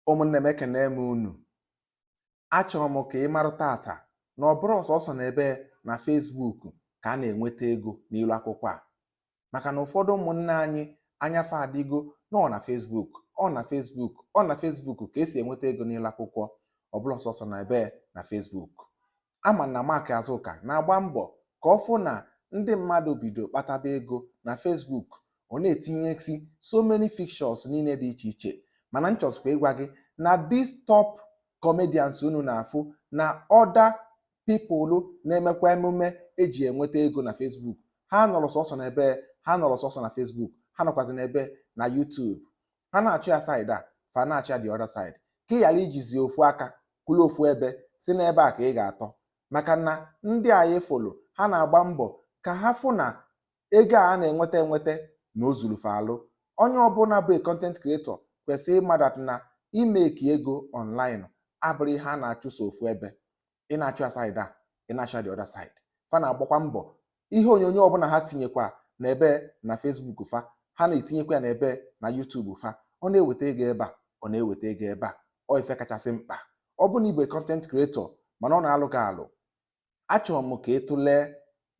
ụmụnne m ekene m unu achọrọ m ka ị mara tata na ọ bụrọ sọsọ na ebe na Facebook ka a na-enweta ego n'ilu akwụkwọ a maka na ụfọdụ ụmụnne anyị anya fa adịgo na ọ na Facebook ọ na Facebook ọ na Facebook ka e si enweta ego n'ilu akwụkwọ ọ bụrọ sọsọ na ebe na Facebook a ma na Mark Azụka na-agba mbọ ka ọ fụ na ndị mmadụ bido kpataba ego na Facebook ọ na-etinyesi so many features niile dị iche iche mana m chọzikwa ịgwa gị na these top comedians unu na-afụ na other people na-emekwa emume eji enweta ego na Facebook ha nọrọ sọsọ na ebe ha nọrọ sọsọ na Facebook ha nọkwazi na ebe na YouTube ha na-achụ ya side a fa na-achụ ya the other side ka ị ghara ijizi ofu aka kwụrụ ofu ebe sị n'ebe a ka ị ga-atọ maka na ndị anyị fụlụ ha na-agba mbọ ka ha fụ na ego a na-enweta enweta na o zuru fa alụ onye ọbụla bụ content creator kwesịrị ịma that na imake ego online abụrọ ihe a na-achụ sọ ofu ebe ị na-achụ ya side a ị na-achụ the other side fa na-agbakwa mbọ ihe onyonyo ọbụla ha tinyekwa na ebe na Facebook fa ha na-etinyekwa ya na ebe na YouTube fa ọ na-eweta ego ebe a ọ na-eweta ego ebe a ọ ife kachasị mkpa ọ bụ na ị bụ content creator mana ọ na-alụ gị alụ achọrọ m ka ị tụlee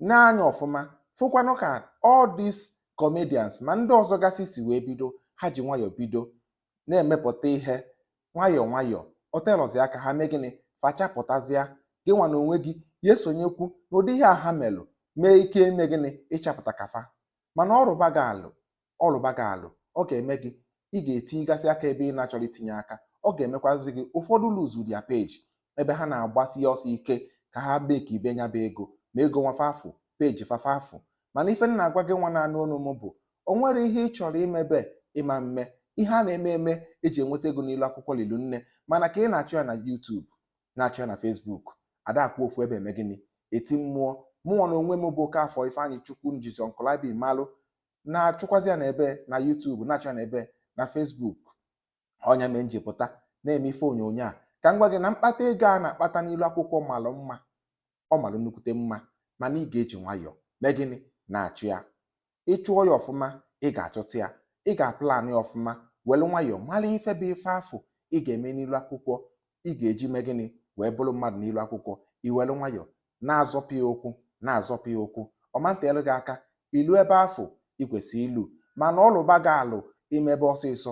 n'anya ọfụma fụkwanụ ka all these comedians ma ndị ọzọ gasị si wee bido ha ji nwayọọ bido na-emepụta ihe nwayọọ nwayọọ o telọzi aka ha mee gịnị fa achapụtazịa gị nwa na onwe gị ya-esonyekwu n'ụdị ihe a ha melụ nwee ike ime gịnị ịchapụta ka fa mana ọ rụba gị alụ ọ rụba gị alụ ọ ga-eme gị ị ga-etinyegasị aka ebe ị na-achọrọ itinye aka ọ ga-emekwazi gị ụfọdụ lose their page ebe ha na-agbasi ọsọ ike ka ha makebe nya bụ ego ma ego nwa fa afụ page fa fa afụ mana ife m na-agwa gị nwa na-anụ onu m bụ o nwerọ ihe ị chọrọ imebe ị ma mme ihe a na-eme eme eji enweta ego n'ilu akwụkwọ lilu nne mana ka ị na-achọ ya na YouTube na-achọ ya na Facebook a da-akwụ ofu ebe eme gịnị eti mmụọ mụnwa na onwe m bụ Okafọ Ifeanyịchukwu njizi Uncle IB malụ na-achụkwazi ya na ebe na YouTube na-achụ ya na ebe na Facebook ọ nya mee m ji pụta na-eme ife onyonyo a ka m gwa gị na mkpata ego a na-akpata n'ilu akwụkwọ malụ mma ọ malụ nnukwute mma mana ị ga-eji nwayọọ mee gịnị na-achụ ya ị chụọ ya ọfụma ị ga-achụta ya ị ga-aplan ya ọfụma were nwayọọ mara ife bụ ife afụ ị ga-eme n'ilu akwụkwọ ị ga-eji mee gịnị wee bụrụ mmadụ n'ilu akwụkwọ i welu nwayọọ na-azọpụ ya ụkwụ na-azọpụ ya ụkwụ ọ ma nteelu gị aka ilu ebe afụ ị kwesịrị ilu mana ọ lụba gị alụ i mebe ọsịsọ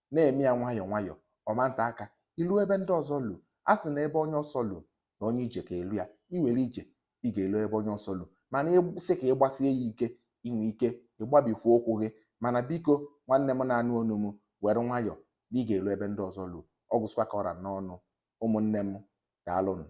na-eme ya nwayọọ nwayọọ ọ ma nte aka i lu ebe ndị ọzọ lu a sị na ebe onye ọsọ lu na onye ije ka-elu ya i were ije ị ga-elu ebe onye ọsọ lu mana ị sị ka ị gbasie ya ike i nwe ike ịgbabifu ụkwụ gị mana biko nwanne m na-anụ onu m were nwayọọ na ị ga-elu ebe ndị ọzọ lu ọ gwụsịkwa ka ọ ra n'ọnụ ụmụnne m daalụnụ